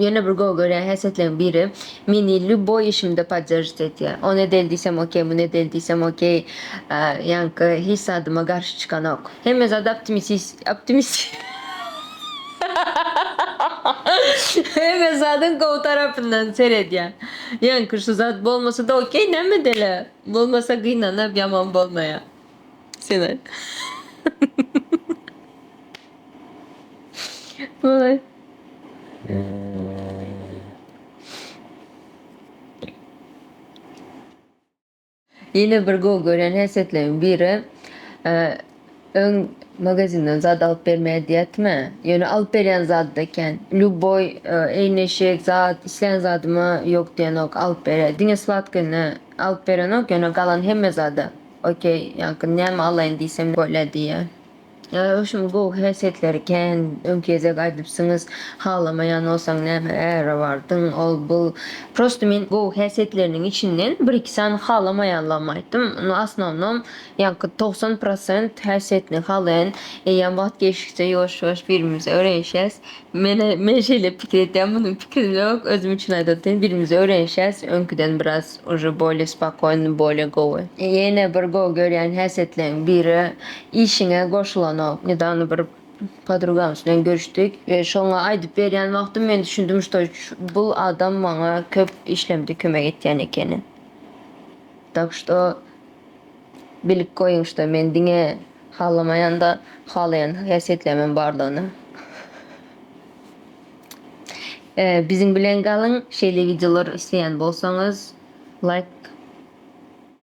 Ýene bir gowy görýän häsiýetleriň biri, meni lýuboý işimde podderžit edýär. Ony edeli diýsem okey, muny edeli diýsem okey. Ýaňky hiç zadyma garşy çykanok. Hemme zady optimisis, optimis, hemme zadyň gowy tarapyndan seredýär. Ýaňky şu zat bolmasa-da okey, näme edeli? Bolmasa gynanyp ýaman bolmaýar. Sen aýt. Oy. Yine bir go gören häsiýetleriň biri öň magazinden zat alyp bermeýär diýýärdiňä. Ýöne alyp berýän zady da eken. Lýuboý eýneşik, zat, islän zadyma ýok diýenok, alyp berýär. Diňe sladkonyny alyp berenok, ýöne galan hemme zady. Okey, ýaňky näme alaýyn diýsem bolýa diýýär. Ýa ökşümiň gowy häsiýetleri kän, öňki gezek aýdypsyňyz, halamaýan bolsaň näme äre bardyň, ol bul. Prosta men gowy häsiýetleriniň içinden bir-iki sany halamaýanlarymy aýtdym. Nu asnownom ýaňky togsan prosent häsiýetini halaýan eýýäm wagt geçdikçe ýuwaş-ýuwaş birimize öwrenişýäs. Men men şeýle pikir etýän, munuň pikirimizok, özüm üçin aýdýan, birimize öwrenişýäs öňküden biraz. Uje bolye spokojny bolye gowy. Ýene bir gowy görýän häsiýetleň biri işiňe goşulanok. Nedawno bir podrugamyz bilen görüşdik we şoňa aýdyp berýän wagtym men düşündim şto bul adam maňa köp işlemde kömek etýän ekeni. Tak şto bilip goýuň şto men diňe halamaýanda halaýan häsiýetlerimem bardygyny. Biziň bilen galyň şeýle wideolar isleýän bolsaňyz like.